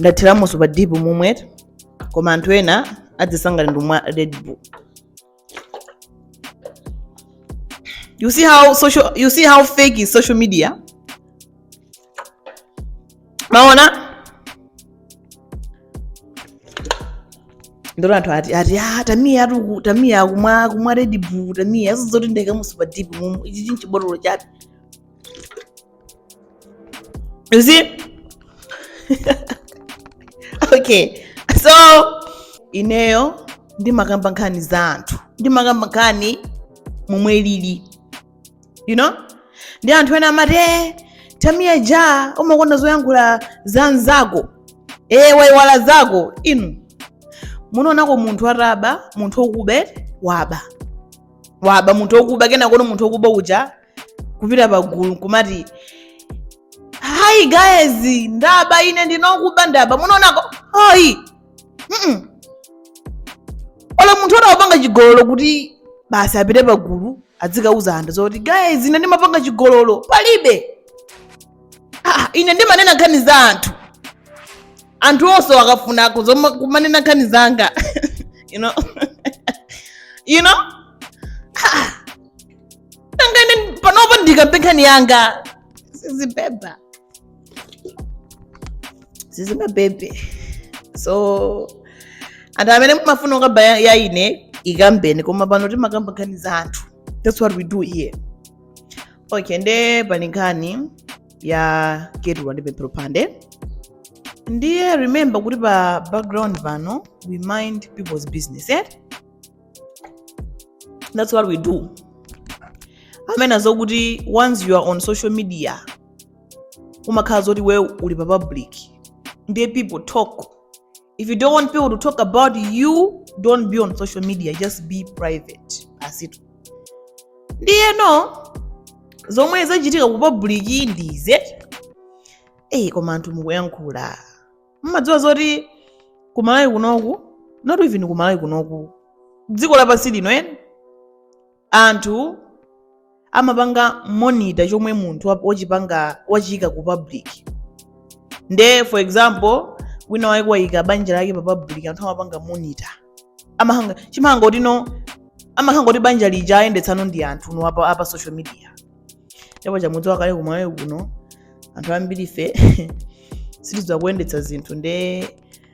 ndathiramo super dip momwetu koma anthu ena adziyesa ngati ndumwa red bull you see how social you see how fake is social media maona ndolo anthu ati ati ah tamiya atuku tamiya akumwa kumwa red bull tamiya izo zoti ndaikamo super dip mumu ichichi nchibotolo chabe you see okay so ineyo ndimakamba nkhani za anthu ndimakamba nkhani momwe ilili you know ndi anthu ena amati eh, tamiya ja umakonda zoyankhula za anzako ee eh, waiwala zako inu munaonako munthu ataba munthu okuba waba waba munthu okuba kenakono munthu okuba uja kupita pagulu nkumati hi guys ndaba ine ndine okuba ndaba munaonako ayi Mm-mm. olo munthu anapanga chigololo kuti basi apite pagulu adzikauza anthu zoti guys ine ndimapanga chigololo palibe ah, ine ndimanena nkhani za anthu anthu onse akafunako zoma- kumanena nkhani zanga you know you know Ah. nanga ine panopa ndikambe nkhani yanga sizibeba sizingabebe so anthu amene mumafuna kukamba ya ya ine ikambeni koma pano timakamba nkhani za anthu that's what we do here okay nde pali nkhani ya keturah ndi pemphero mphande ndiye remember kuti pa background pano we mind people's business eh? that's what we do amanena zokuti once you are on social media umakhala zoti iwe uli pa public ndiye people talk if you don't want people to talk about you don't be on social media just be private basitu ndiyeno zomwe zachitika ku public ndize eyi koma anthu mukuyankhula mumadziwa zoti kumalawi kunoku not even kumalawi kunoku dziko lapansi lino eni Anthu amapanga monitor chomwe munthu wa- wachipanga wachiika ku public nde for example wina wake waika banja lake pa public anthu amapanga monitor amakhala chimakhala ngati kuti no amakhala ngati kuti banja lija ayendetsano ndi anthu no apa, apa social media nde paja mudziwa kale kumalawi kuno anthu ambirife sitidziwa kuyendetsa zinthu nde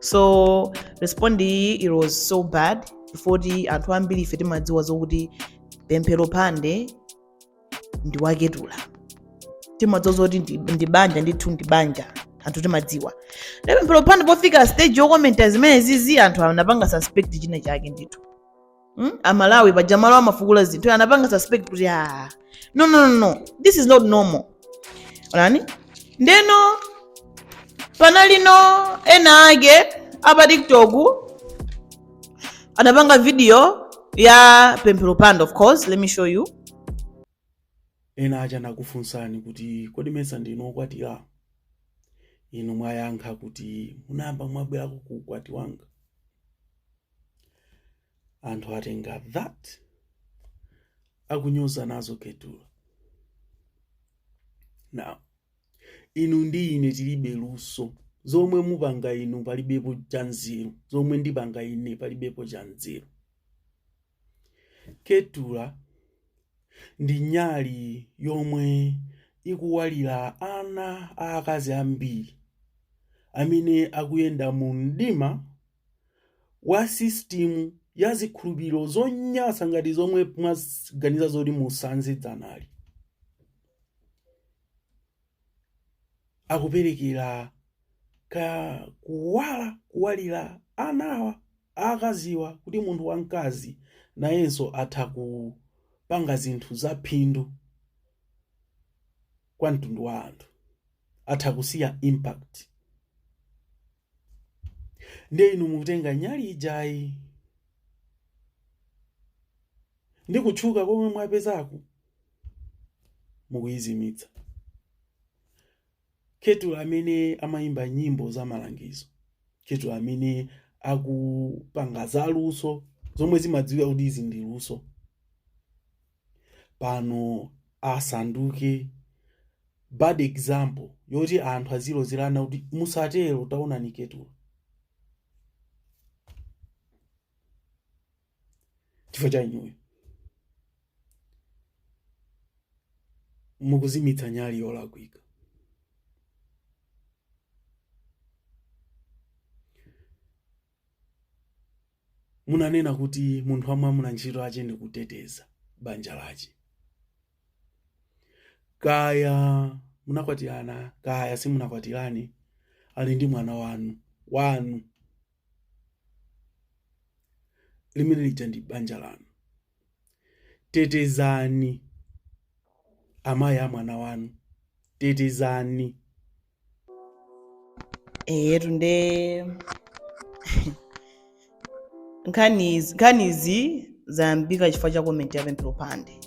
so respond iyi it was so bad chifukwa choti anthu ambiri ife timadziwa zokuti Pemphero Mphande ndi wa Keturah timadziwa zoti ndi banja ndithu ndi banja anthu timadziwa nde Pemphero Mphande pofika stage yokomenta zimene zizi anthu anapanga suspect china chake ndithu amalawi paja malo amafukula zinthu anapanga suspect kuti ah no no no no this is not normal onani ndeno panalino ena ake apa tiktok anapanga video ya Pemphero Mphande of course let me show you ena aja anakufunsani kuti kodi mesa ndinu okwatira inu mwayankha kuti munayamba mwabwerako ku ukwati wanga anthu atenga that akunyoza nazo Keturah now inu ndi ine tilibe luso zomwe mupanga inu palibepo cha nzeru zomwe ndipanga ine palibepo cha nzeru Keturah ndi nyali yomwe ikuwalira ana aakazi ambiri amene akuyenda mu mdima wa system ya zikhulupiriro zonyansa ngati zomwe mwaganiza zoti musanze dzanali akuperekerako kuwala kuwalira anawa akaziwa kuti munthu wamkazi nayenso atha kupanga zinthu zaphindu kwa mtundu wa anthu atha kusiya impact ndiye inu mukutenga nyali ijayi ndi kutchuka komwe mwapezaku mukuyizimitsa Keturah amene amayimba nyimbo za malangizo Keturah amene akupanga za luso zomwe zimadziwika kuti izi ndi luso pano asanduke bad example yoti anthu azilozerana kuti musatero taonani Keturah chifukwa cha inuyo mukuzimitsa nyali yolakwika Munanena kuti munthu wamwamuna ntchito ache ndi kuteteza banja lache. Kaya munakwatirana kaya simunakwatirane, ali ndi mwana wanu wanu, limene lija ndi banja lanu. Tetezani amayi a mwana wanu, tetezani. eyetu nde nkhani izi- nkhanizi zayambika chifukwa cha komenti ya Pemphero Mphande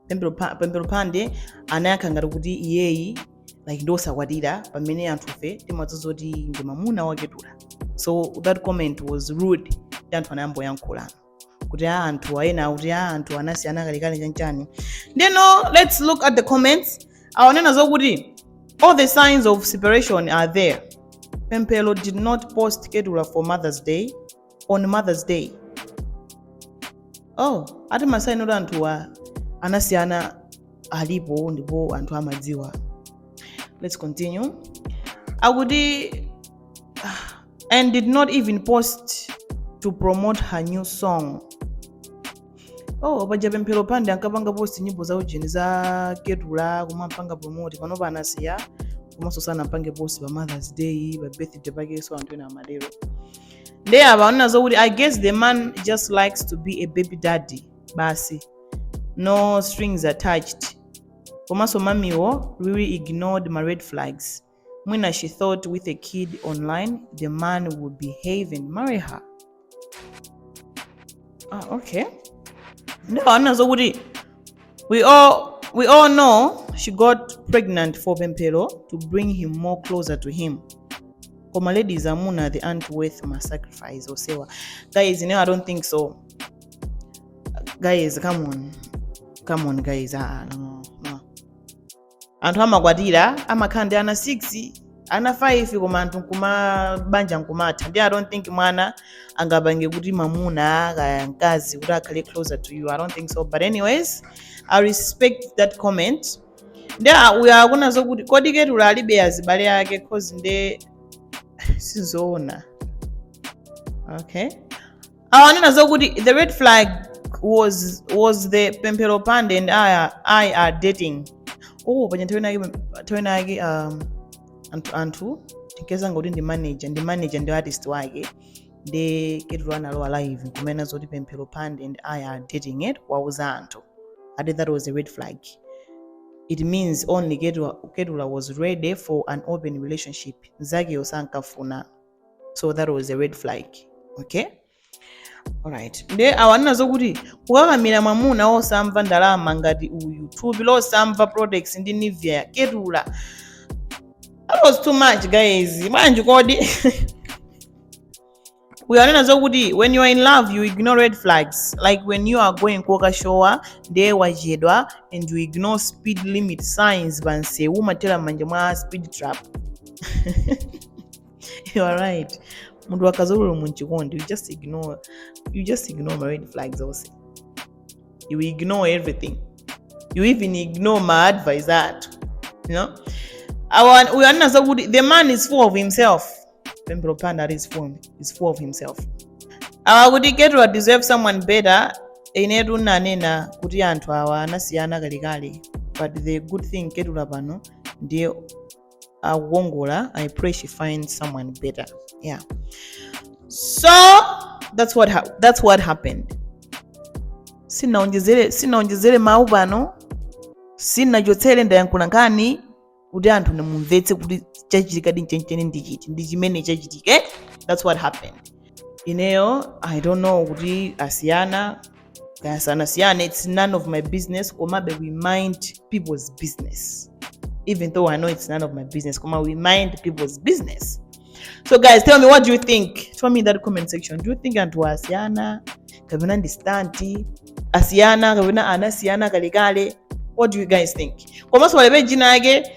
Pemphero Pa- Pemphero Mphande anayankha ngati kuti iyeyi like ndiosakwatira pamene anthufe timadziwa zoti ndi mamuna wa Keturah so that comment was rude ndi anthu anayambano kuyankhulana kuti a anthu ena kuti a anthu anasiyana kalekale chanchani ndeno let's look at the comments awa anena zokuti all the signs of separation are there Pemphero did not post Keturah for mother's day on mother's day oh ati masaini oti anthuwa anasiyana alipo ndipo anthu amadziwa let's continue akuti ah, and did not even post to promote her new song oh paja Pemphero Mphande ankapanga post nyimbo za ujeni za Keturah kumampanga promote panopa anasiya komanso sanampange post pa Mother's Day pa birthday pakenso anthu ena amatero nde awa anena zokuti i guess the man just likes to be a baby daddy basi no strings attached komanso mamiwo really ignored my red flags mwina she thought with a kid online the man would behave and marry her ah, okay ndipo anena zokuti we all, we all know she got pregnant for pemphero to bring him more closer to him koma ladies amuna the aunt worth ma sacrifice osewa guys you know, i don't think so guys come on come on guys ah, no, no. anthu amakwatira amakhala ndi ana 6 ana 5 koma anthu mabanja nkumatha nde i don't think mwana angapange kuti mamuna kaya mkazi kuti akhale closer to you i don't think so but anyways i respect that comment nde a- uyo akunena zokuti kodi Keturah alibe azibale ake cause nde sizoona okay awo anena zokuti the red flag was, was the Pemphero Mphande and I, are- i are dating oh paja nthawi inake nthawi inake um, anthu, anthu tinkayesa ngoti ndi manager ndi manager ndi artist wake nde Keturah analowa live kumena zoti Pemphero Mphande and i are dating atawauza anthu i think that was a red flag it means only Ketua- Keturah was ready for an open relationship mzakeyo sankafuna so that was a red flag okay alright nde awa anena zokuti kukakamira mwamuna wosamva ndalama ngati uyu thupi losamva products ndi Nivea Keturah that was too much guys bwanji kodi uyo anena zokuti when you are in love you ignore red flags like when you are going kokashowa nde wachedwa and you ignore speed limit signs pansewu umathera m'manja mwa speed trap you are right mundu akazorora mu chikondi you just ignore you just ignore my red flags also you ignore everything you even ignore my advice that you know we understand good the man is full of himself pembro panda is full is full of himself awa kuti keto deserve someone better inetu nanena kuti anthu awa anasiyana kalekale but the good thing ketula pano ndiye akukongola i pray she finds someone better yeah so that's what, ha that's what happened sinaonjezere sinaonjezere mawu pano sinachotsere ndayankhula nkhani kuti anthu inu mumvetse kuti chachitika chenicheni ndi chiti ndi chimene chachitika that's what happened ineyo i don't know kuti asiyana kaya sanasiyane its none of my business komabe we mind people's business even though i know it's none of my business koma we mind people's business so guys tell me what do you think tell me in that comment section do you think anthu asiyana kapena ndi stanti asiyana kapena anasiyana kalekale what do you guys think komanso pali page ina yake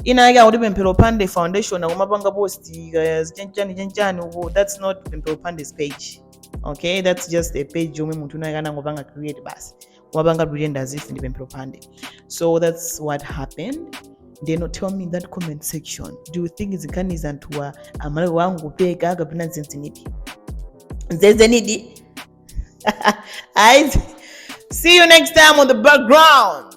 ina yake akuti pemphero mphande foundation akumapanga post kaya zichanichani chanchani uko that's not pemphero mphande's page okay that's just a page yomwe munthu winawake anangopanga create basi kumapanga pretend as if ndi pemphero mphande so that's what happened ndeno tell me in that comment section do you think zi nkhani za anthuwa amangopeka kapena ndi zenizenidi zenizenidi I see you next time on the background